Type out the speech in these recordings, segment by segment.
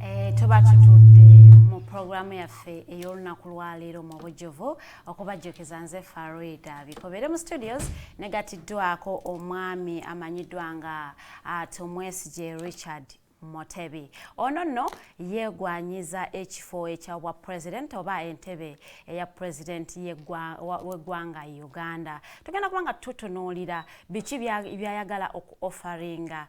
Eh, tuba tutudde mu pulogulaamu yaffe ey'olunaku lwaleero mu bujjuvu okubajjukiza nze faroida bikobere mu studios negatiddwako omwami amanyiddwa nga ah, tumwesigye richard Motebi ono nno yeegwanyiza ekifo ekya bwa president oba entebe eya president w'eggwanga Uganda tugenda kuba nga tutunuulira biki byayagala oku offaringa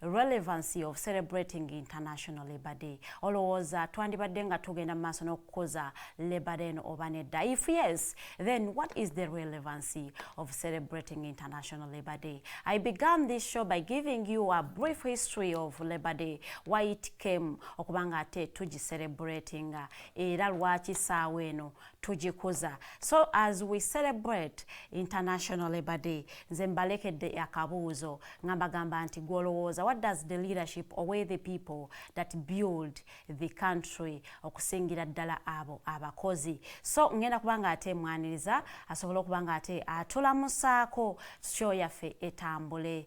relevancy of celebrating international labor day olowooza twandibadde nga tugenda mu maaso n'okukuza labor day no oba nedda if yes then what is the relevancy of celebrating international labor day i began this show by giving you a brief history of labor day why it came okubanga ate tugi celebratinga era lwaki saawa eno tugikuza so as we celebrate international labor day nze mbalekedde akabuuzo nga mbagamba nti gwolowooza what does the leadership owe the people that build the country okusingira ddala abo abakozi so ngenda kuba nga ate mwaniriza asobola okuba nga ate atulamusaako sho yaffe etambule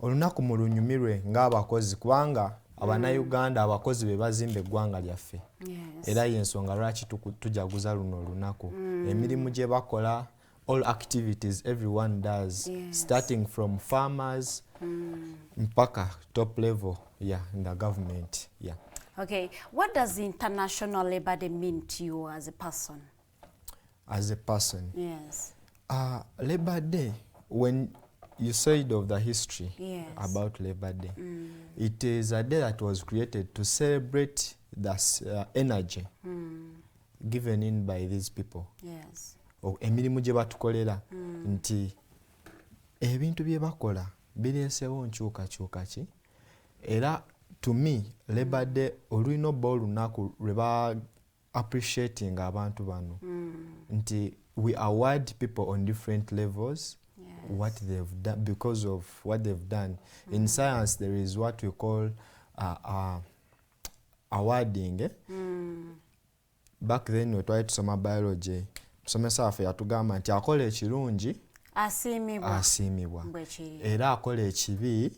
Olunaku mulunyumirwe ng'abakozi kubanga abanayuganda mm. abakozi be bazimba eggwanga lyaffe era y'ensonga lwaki tujaguza luno olunaku mm. emirimu gye bakola all activities everyone does yes. starting from farmers mm. mpaka top level yeah, in the government yeah. okay. what does international labor day mean to you as a person as a person yes. uh, labor day when you said of the history yes. about labor day mm. it is a day that was created to celebrate the uh, energy mm. given in by these people yes. emirimu gye batukolera mm. nti ebintu bye bakola bireesewo nkyukakyuka ki era to me labor day olulina obba olunaku lwe appreciating abantu bano mm. nti we award people on different levels yes. what they've done because of what they've done mm. in science there is what we call uh, uh, awarding eh? mm. back then wetwali tusoma biology musomesa waffe yatugamba nti akola ekirungi asiimibwa asiimibwa era akola ekibi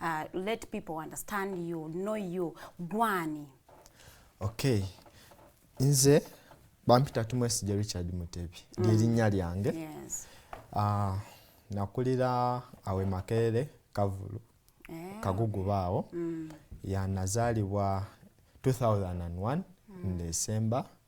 uh, let people understand you know you gwani okay nze bampita tumwesije richard mutebi mm. lyerinnya lyange yes. uh, nakulira awe makerere kavulu yeah. kaguguba awo mm. yanazaalibwa 2001 mm. ndesemba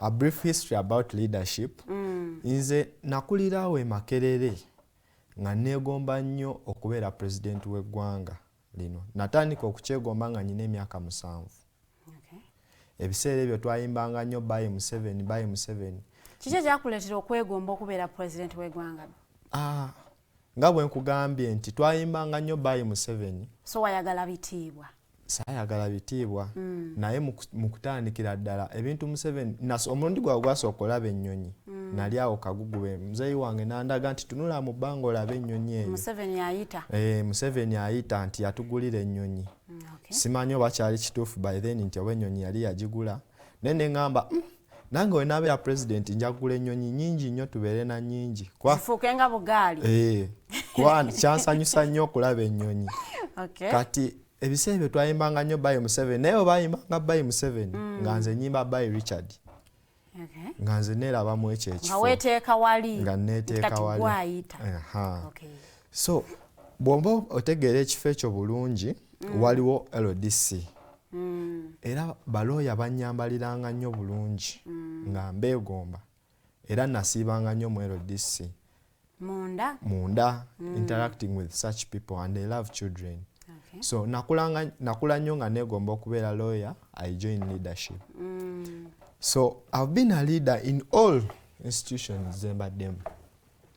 A brief history about leadership. Mm. Nze nakulirawo e Makerere nga neegomba nnyo okubeera pulezidenti w'eggwanga lino. Natandika okukyegomba nga nyina emyaka musanvu. Okay. Ebiseera ebyo twayimbanga nnyo bayi Museveni, bayi Museveni. Kiki ekyakuleetera okwegomba okubeera pulezidenti w'eggwanga? Ah, Nga bwe nkugambye nti twayimbanga nnyo Baayi Museveni. So wayagala bitiibwa? Saayagala bitiibwa mm. naye mu kutandikira ddala ebintu Museveni nas omulundi gwawe gwasooka olaba ennyonyi mm. nali awo kagugube muzeeyi wange nandaga nti tunula mu bbanga olaba ennyonyi eyo Museveni ayita eh, Museveni ayita nti yatugulira ennyonyi mm, okay. simanyi oba kyali kituufu by then nti oba ennyonyi yali yagigula naye ne ŋŋamba mm, nange wenabeera president njagula enyonyi nyingi nnyo tubeere na nyingi zifuuke nga bugaali eh, kuba kyansanyusa nnyo okulaba enyonyi kati ebiseera ebyo twayimbanga nnyo bayi museveni naye obayimbanga bayi museveni mm. nga nze nyimba bayi richard nga nze neerabamu ekyo ekifoweteeka wali nga neteeka wali so bwomba otegeera ekifo ekyo bulungi mm. waliwo ldc mm. era balooya bannyambaliranga nnyo bulungi mm. nga mbeegomba era nasiibanga nnyo mu ldc munda, munda mm. interacting with such people and they love children okay. so nakula nnyo nga neegomba okubeera looya i join leadership mm. so i've been a leader in all institutions zembaddemu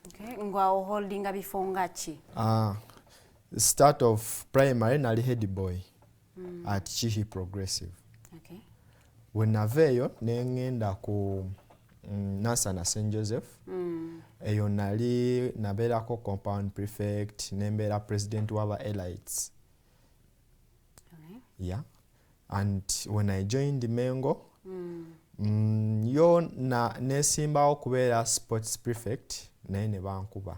okay. ngwawo holdinga bifo nga ki uh, start of primary nali head boy mm. at kihi progressive okay. wenava eyo nengenda ku mm, nansana st joseph mm. eyo nali nabeerako compound prefect nembeera president waba elites okay. yeah. and when i joined mengo mm. Mm, yo nesimbawo kubeera sports prefect naye nebankuba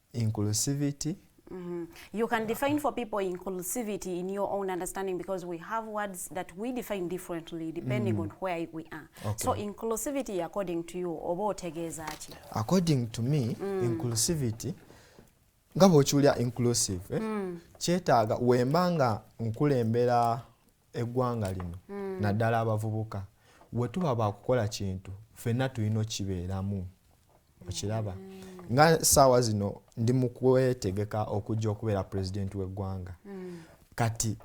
inclusivity Mm -hmm. You can define for people inclusivity in your own understanding because we have words that we define differently depending mm -hmm. on where we are. Okay. So inclusivity according to you oba otegeeza ki? According to me mm. inclusivity nga bw'okiwulira inclusive eh? mm. kyetaaga wemba nga nkulembera eggwanga lino mm. naddala abavubuka wetuba bakukola kintu fenna tulina okibeeramu okiraba nga saawa zino ndi mukwetegeka okujja okubeera pulezidenti w'eggwanga mm. kati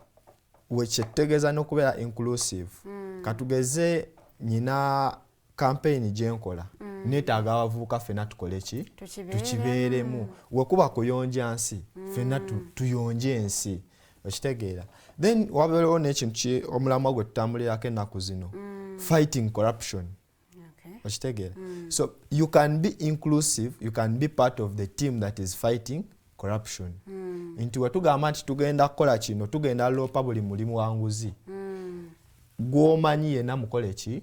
wekyetutegeeza n'okubeera inclusive mm. katugeze nyina kampeyini gye nkola mm. neetaaga abavubuka ffenna tukole ki tukibeeremu wekuba kuyonja nsi mm. ffenna tuyonje ensi okitegeera then wabeerewo n'ekintu omulamwa gwe tutambulirako ennaku zino mm. fighting corruption okitegeera mm. so you can be inclusive you can be part of the team that is fighting corruption mm. nti wetugamba nti tugenda kukola kino tugenda loopa buli mulimu wanguzi mm. gwomanyi yena mukole ki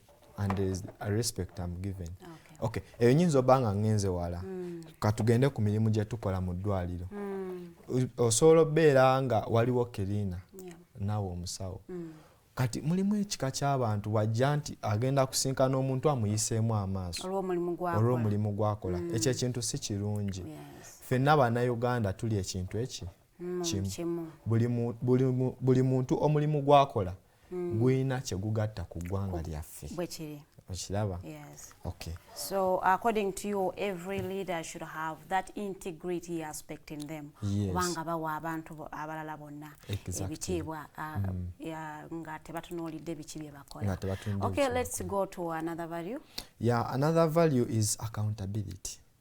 and there is a respect I'm given okay eyo nyinza oba nga ngenze wala hmm. katugende ku mirimu gye tukola mu ddwaliro hmm. osobola obeera nga waliwo kirina naawe omusawo hmm. kati mulimu ekika ky'abantu wajja nti agenda kusinkana omuntu amuyiseemu amaaso olw'omulimu gwakola ekyo ekintu si kirungi fenna bannayuganda tuli ekintu eki kimu buli muntu omulimu gwakola mm. gulina kyegugatta ku ggwanga lyaffe okiraba yes. okay. so according to you every leader should have that integrity aspect in them kubanga yes. bawa abantu abalala bonna exactly. ebitiibwa uh, mm. uh, nga tebatunuulidde biki bye bakola okay, let's go to another value yeah, another value is accountability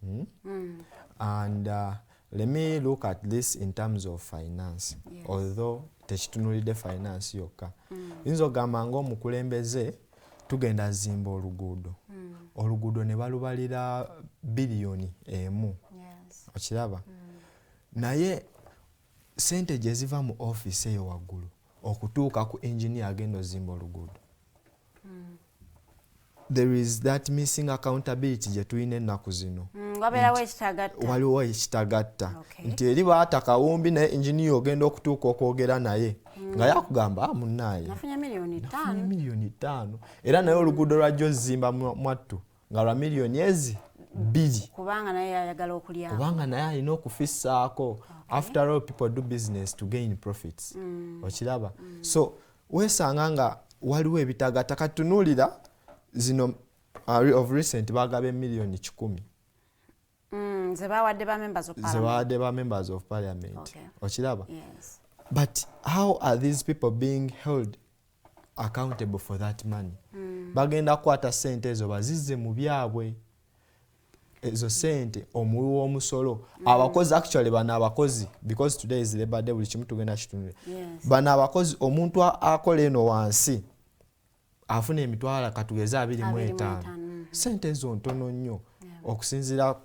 Hmm? Mm. And uh, let me look at this in terms of finance. Yes. Although tekitunulidde finance yokka. Mm. Yinza ogamba ng'omukulembeze tugenda azimba oluguudo. Mm. Oluguudo ne balubalira biliyoni emu. Yes. Okiraba? Mm. Naye Ssente gye ziva mu ofiisi eyo waggulu okutuuka ku engineer agenda ozimba oluguudo hmm. there is that missing accountability gye tulina ennaku zino hmm, waliwo ekitagatta nti eri baata kawumbi naye engineer ogenda okutuuka okwogera naye nga yakugamba ah, munaye nafunye miliyoni ttaano era naye oluguudo lwajja ozimba mwattu nga lwa miliyoni ezi bbiri kubanga naye ayagala okulya kubanga naye alina okufissaako okay. after all people do business to gain profits mm. okiraba mm. so weesanga nga waliwo ebitagata katunuulira zino uh, of recent bagaba emiliyoni kikumi mm, zebawadde ba members of parliament okay. okiraba yes. but how are these people being held accountable for that money mm. bagenda kukwata sente ezo bazizze mu byabwe ezo sente omuwi w'omusolo mm. abakozi actually bano abakozi because today is labor day buli kimu tugenda kitunule yes. bano abakozi omuntu akola eno wansi afuna emitwala katugeze abiri mu etaano mm-hmm. sente ezo ntono nnyo yeah. okusinzira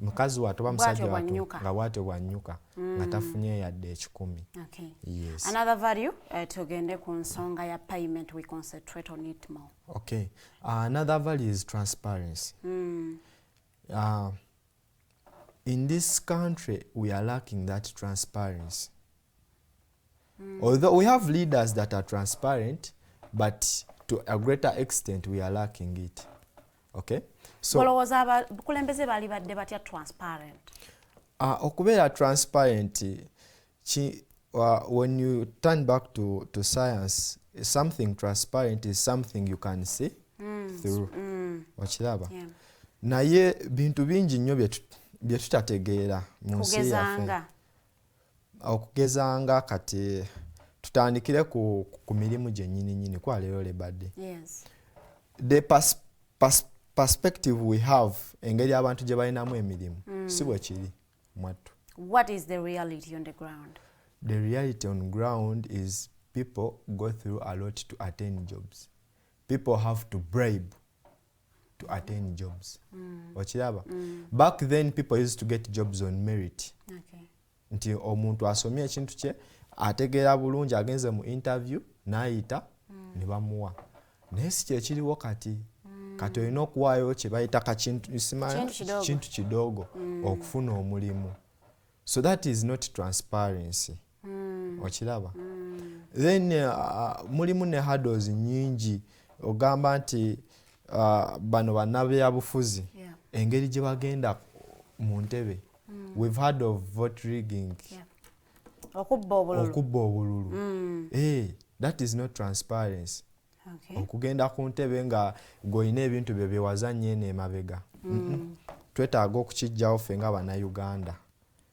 mukazi watu oba musajja watu nga bwatyo bwanyuka nga mm. tafunye yadde ekikumi okay. yes. another value uh, tugende ku nsonga ya payment we concentrate on it more okay. uh, another value is transparency mm. uh, in this country we are lacking that transparency Mm. Although we have leaders that are transparent, but to a greater extent we are lacking it. Okay? So, olowooza abakulembeze baali badde batya transparent? Uh, okubeera transparent ki, uh, when you turn back to, to science something transparent is something you can see mm. through mm. okiraba yeah. naye bintu bingi nnyo bye tutategeera mu nsi yaffe okugeza nga kati tutandikire ku, ku mirimu gyennyini nyini kuba leero lebade yes. the pers pers perspective we have engeri abantu gye balinamu emirimu mm. si bwe kiri mwattu what is the reality on the ground the reality on ground is people go through a lot to attain jobs people have to bribe to attain jobs mm. okiraba mm. back then people used to get jobs on merit okay. nti omuntu asomye ekintu kye ategeera bulungi agenze mu interview nayita mm. ne bamuwa naye si kyekiriwo kati mm. kati olina okuwaayo kyebayita kakintu kidogo mm. okufuna omulimu so that is not transparency mm. okiraba mm. then uh, mulimu ne hados nyingi ogamba nti uh, bano banabyabufuzi yeah. engeri gye bagenda mu ntebe mm. we've heard of vote rigging yeah. okubba obululu, okubba obululu. Mm. Hey, eh, that is not transparency okay. okugenda ku ntebe nga gwolina ebintu byo byewazannya eno emabega mm. mm -mm. twetaaga okukijjawo ffe nga bannayuganda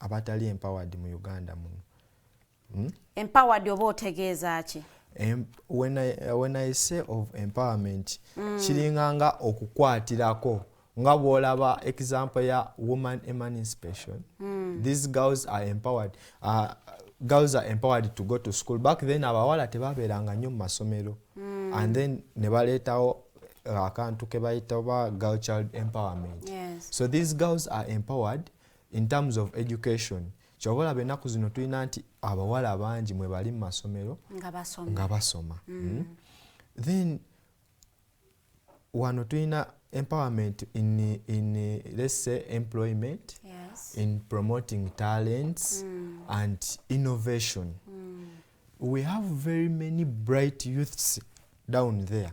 abatali empowered mu uganda muno hmm? empowered oba otegeeza ki when I, when i say of empowerment mm. kiringa nga okukwatirako nga bwolaba example ya woman emancipation mm. these girls are empowered uh, girls are empowered to go to school back then abawala tebabeeranga nnyo mu masomero mm. and then ne baleetawo akantu kebayita oba girl child empowerment yes. so these girls are empowered in terms of education kyoba olaba ennaku zino tulina nti abawala bangi mwe bali mu masomero nga basoma mm. mm. then wano tulina empowerment in, in let's say employment yes. in promoting talents mm. and innovation mm. we have very many bright youths down there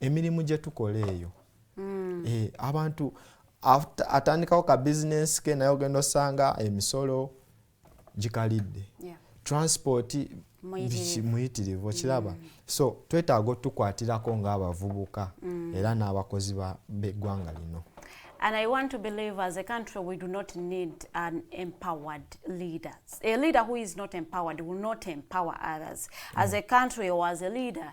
emirimu gye tukola eyo mm. e, abantu atandikawo ka bizinensi ke naye ogenda osanga emisolo gikalidde yeah. transport muyitirivu okiraba mm. so twetaaga otukwatirako ng'abavubuka mm. era n'abakozi b'eggwanga lino And I want to believe as a country we do not need an empowered leader. A leader who is not empowered will not empower others. Mm. As a country or as a leader,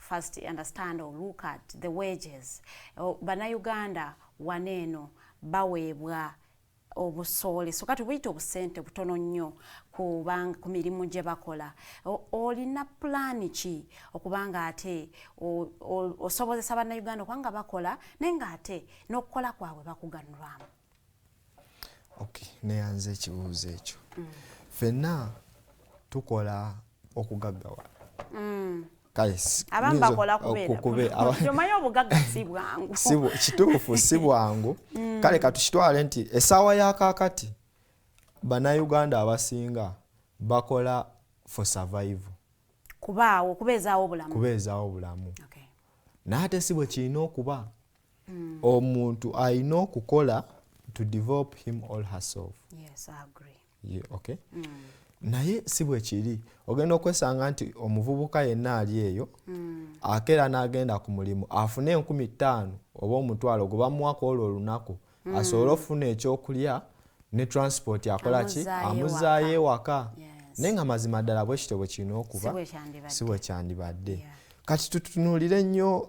first understand or look at the wages oh, banauganda wana eno baweebwa obusoole so kati buyita obusente butono nnyo kubanga ku mirimu gye bakola olina pulaani ki okubanga ate osobozesa bannayuganda okubanga bakola naye nga ate n'okukola kwabwe bakuganulwamu okay neyanze ekibuuzo ekyo mm. fenna tukola okugaggawa mm. omanyi obugagga si bwangu kituufu si bwangu mm. kale katukitwale nti esaawa ya kakati banauganda abasinga bakola for survival kubaawo kubeezaawo obulamu kubeezaawo obulamu okay. naye ate si bwe kirina okuba mm. omuntu alina okukola to develop him all herself yes, I agree. Yeah, okay. mm. naye si bwekiri ogenda okwesanga nti omuvubuka yenna ali eyo mm. akeera n'agenda ku mulimu afune enkumi ttaano oba omutwalo gwe bamuwako olwo olunaku mm. asobole okufuna ekyokulya ne transport akola ki amuzaayo ewaka yes. naye nga mazima ddala bwekityo bwe kirina okuba si bwekyandibadde yeah. kati tutunuulire nnyo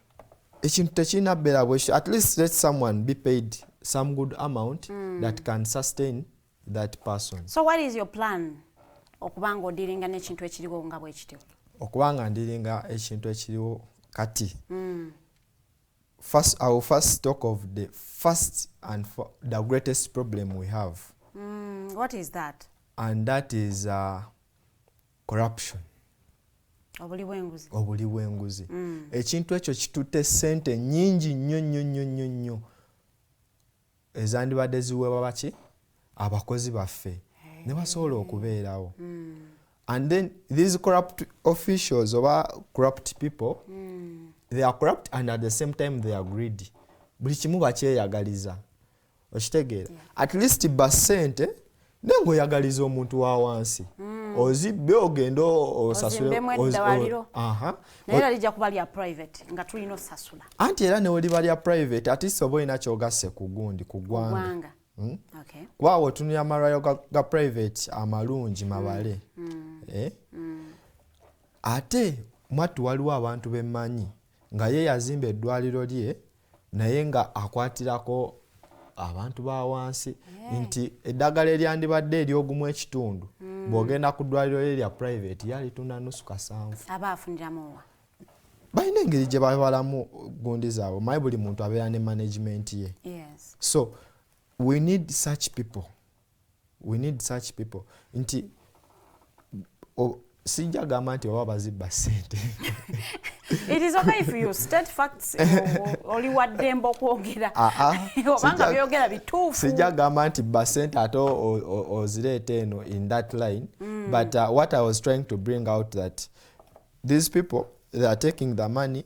ekintu tekirina bbeera bwekityo at least let someone be paid some good amount mm. that can sustain that person so what is your plan okuba nga odiringa n'ekintu ekiriwo nga bwekityo okuba nga ndiringa ekintu ekiriwo kati mm. first, I will first talk of the first and the greatest problem we have. Mm, what is that? And that is uh, corruption obuli bwenguzi obuli bwenguzi mm. ekintu ekyo kitute sente nyingi nnyo nnyo nnyo nnyo nnyo ezandibadde ziweebwa baki abakozi baffe hey. ne basobola okubeerawo mm. and then these corrupt officials oba corrupt people mm. they are corrupt and at the same time they are greedy buli kimu bakyeyagaliza okitegeera at least ba sente naye ngaoyagaliza omuntu wa wansi mm. ozibbe ogende anti era neweliba lya private at least oba olina kyogasse ku gundi ku gwanga hmm? kuba awo otunulira amalwayo ga private amalungi mm. mabale mm. Eh? ate mwattu waliwo abantu bemanyi nga ye yazimba eddwaliro lye naye nga akwatirako abantu ba wansi yeah. nti eddagala eryandibadde eryogumu ekitundu mm. bw'ogenda ku ddwaliro lye lya private yalitunda nusu kasanvu aba afuniramuwa balina engeri gye babalamu gundi zaabwe maye buli muntu abeera ne management ye yes. so we need such people we need such people nti sijja gamba nti oba bazibba sente oli waddembe okwogera obanga byogera bituufu sijja gamba nti basente ate ozireeta eno in that line mm. but uh, what i was trying to bring out that these people they are taking the money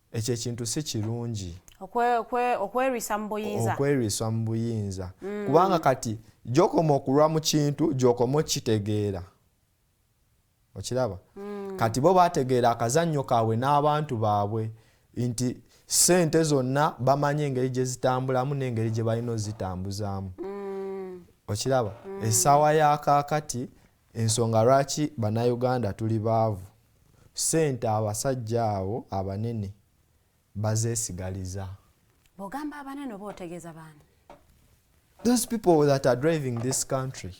ekyo ekintu si kirungi okwerwisa mu buyinza okwerwisa mu buyinza mm. kubanga kati gyokoma okulwa mu kintu gyokoma okukitegeera okiraba mm. kati bo bategeera akazannyo kaabwe n'abantu baabwe nti sente zonna bamanyi engeri gye zitambulamu n'engeri gye balina ozitambuzaamu mm. okiraba essaawa ya kaakati Ensonga lwaki banauganda tuli baavu sente abasajja abo abanene bazesigaliza. Bwogamba abanene oba otegeza baani? Those people that are driving this country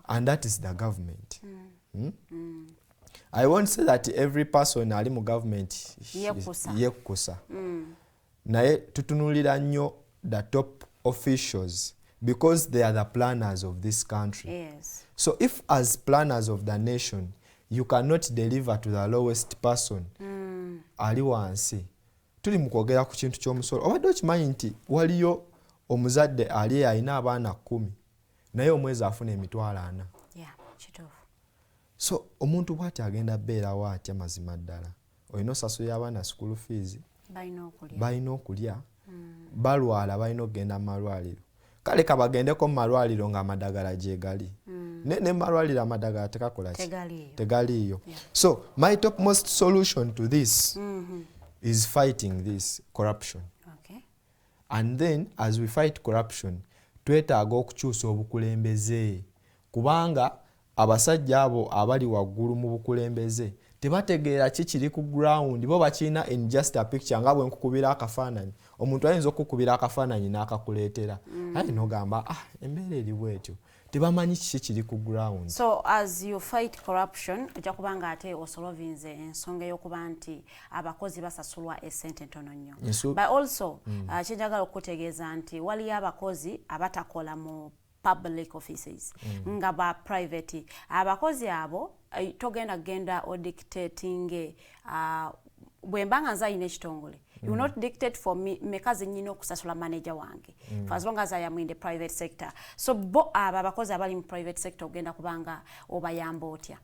and that is the government. Mm. Hmm? Mm. I won't say that every person ali mu government yekukusa. Mm. Naye tutunulira nnyo the top officials because they are the planners of this country. Yes. So if as planners of the nation you cannot deliver to the lowest person mm. ali wansi tuli mu kwogera ku kintu ky'omusolo obadde okimanyi nti waliyo omuzadde ali alina abaana kkumi naye omwezi afuna emitwalo ana so omuntu bwati agenda beerawo atya mazima ddala olina osasulira abaana school fees balina okulya mm. balwala balina okugenda mumalwaliro kale kabagendeko mumalwaliro nga amadagala gyegali mm. naye nemumalwaliro amadagala tekakola tegaliiyo so my top most solution to this mm -hmm. is fighting this corruption okay. and then as we fight corruption twetaaga okukyusa obukulembeze kubanga Abasajja abo abali waggulu mu bukulembeze tebategeera ki kiri ku ground, bo bakirina in just a picture nga bwe nkukubira akafaananyi, omuntu ayinza okukukubira akafaananyi n'akakuleetera mm. aye nogamba ah embeera eri bwetyo tebamanyi kiki kiri ku ground. So as you fight corruption ojja kuba nga ate osolovinze ensonga ey'okuba nti abakozi basasulwa esente ntono nnyo but also mm. uh, kyenjagala okukutegeeza nti waliyo abakozi abatakola mu public offices mm. nga ba private abakozi abo eh, togenda genda o dictating uh, bwemba nga nze alina ekitongole mm. you not dictate for me meka zenyina okusasula manager wange mm. for as long as i am in the private sector so bo abo abakozi abali mu private sector ogenda kubanga obayamba otya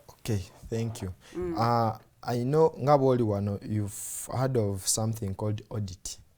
okay thank you mm. uh, i know nga bwoli wano you've heard of something called audit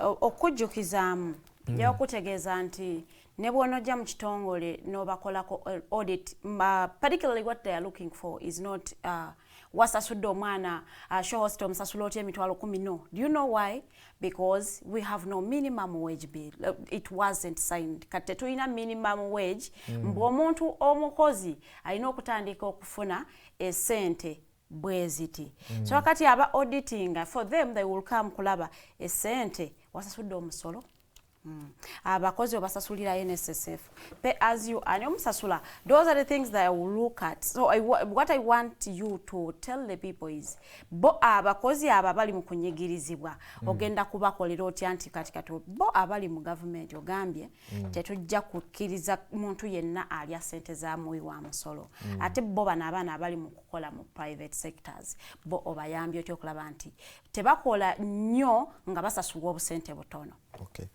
okukujjukizaamu mm. nja kukutegeeza nti ne bwonojja mu kitongole nobakolako eh, audit particularly what they are looking for is not uh, wasasudde omwana uh, shohost omusasula otya emitwalo kumi no do you know why because we have no minimum wage bill uh, it wasn't signed kati tetulina minimum wage mm. mbu omuntu omukozi alina okutandika okufuna esente bweziti mm. so kati aba auditinga for them they will come kulaba esente wasasudde omusolo mm. abakozi obasasulira nssf pay as you ani omusasula those are the things that i will look at so I, what i want you to tell the people is bo abakozi abo abali mu kunyigirizibwa mm. ogenda kubakolera otya nti kati kati bo abali mu gavumenti ogambye mm. tetujja kukkiriza muntu yenna alya sente za muwi wa musolo mm. ate bo bano abaana abali mu kola mu private sectors bo obayambye otya okulaba nti tebakola nnyo nga basasulwa obusente butono okay.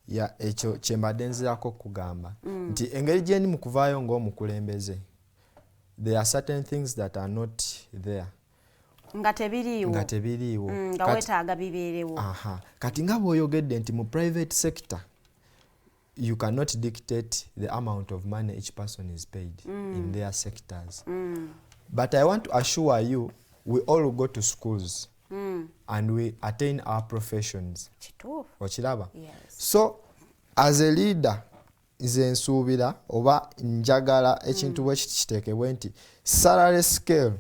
ya ekyo kyembadde nzirako okugamba mm. nti engeri gyendi mu kuvaayo ng'omukulembeze there are certain things that are not there nga tebiriiwo nga tebiriiwo mm, nga wetaaga bibeerewo kati nga bw'oyogedde nti mu private sector you cannot dictate the amount of money each person is paid mm. in their sectors mm. but i want to assure you we all go to schools mm. and we attain our professions okiraba yes. so as a leader nze nsuubira oba njagala ekintu mm. bwe kiti kiteekebwe nti salary scale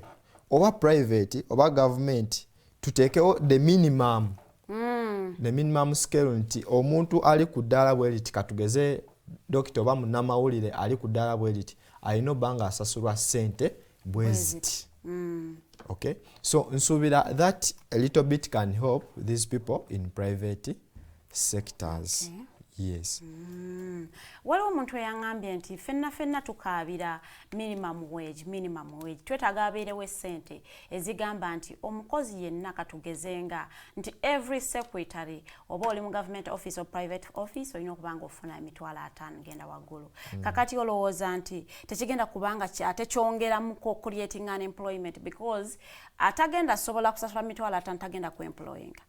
oba private oba gavumenti tuteekewo the minimum mm. the minimum scale nti omuntu ali ku ddaala bwe liti katugeze dokita oba munnamawulire ali ku ddaala bwe liti alina obba nga asasulwa ssente bwe ziti mm. okay so nsuubira that a little bit can help these people in private sectors okay. yes mm. waliwo omuntu eyaŋambye nti fenna fenna tukaabira minimum wage minimum wage twetaaga abeerewo essente ezigamba nti omukozi yenna katugezenga nti every secretary oba oli mu government office or private office olina okuba nga ofuna emitwalo ataano genda waggulu mm. kakati olowooza nti tekigenda kubanga ate kyongeramuko creating an employment because atagenda asobola kusasula mitwalo ataano tagenda ku employinga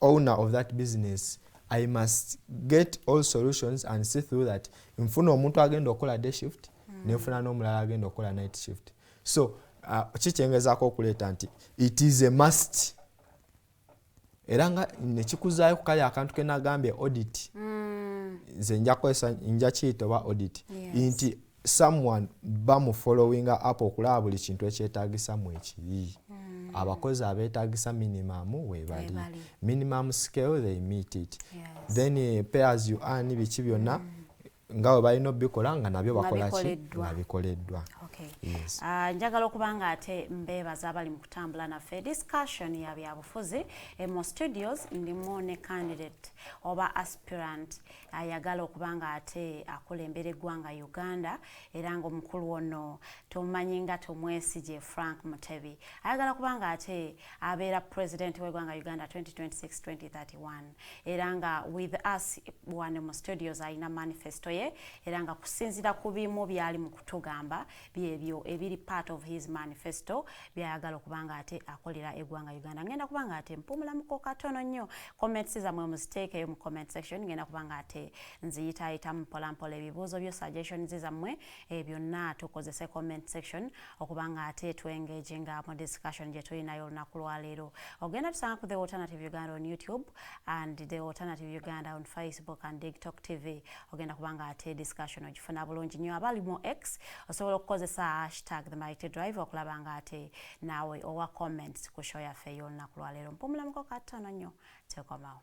owner of that business i must get all solutions and see through that nfuna omuntu agenda okukola day shift mm. nenfuna n'omulala agenda okukola night shift so uh, kikyengezaako okuleeta nti it is a must era nga nekikuzaayo ku kali akantu kenagambye audit mm. nze nja kukozesa nja kiyita oba audit nti someone bamu followinga up okulaba buli kintu ekyetagisa mu ekiri mm. abakozi abetagisa minimum webali minimum scale they meet it yes. then eh, pay as you earn biki byonna mm. nga bwe balina obikola nga nabyo bakolaki nga bikoleddwa ah, njagala okuba nga ate mbeebaza abali mu kutambula naffe discussion ya byabufuzi emu studios ndimu ne candidate oba aspirant mm. ayagala okuba nga ate akulembera eggwanga Uganda era nga omukulu ono tomumanyi nga tomwesigye Frank Mutebi ayagala kuba nga ate abeera president w'eggwanga Uganda 2026-2031 era nga with us wano mu studios alina manifesto ye era nga kusinzira ku bimu byali mu kutugamba byebyo ebiri part of his manifesto byayagala okuba nga ate akolera egwanga uganda ngenda kuba nga ate mpumulamuko katono nnyo comments zamwe muziteekeyo mu comment section ngenda kuba nga ate nziyitaayitamu mpolampola ebibuuzo byo suggestions zamwe e byonna tukozese comment section okuba nga ate twengage nga mu discussion gye tulinayo olunaku lwaleero ogenda tusanga ku the alternative uganda on youtube and the alternative uganda on facebook and tiktok tv ogenda kubanga ate discussion ogifuna bulungi nnyo abali mu x osobola okukozesa hashtag the mighty drive okulaba nga ate naawe owa comments ku show yaffe ey'olunaku lwaleero mpumulamuko kattono nnyo tekomawo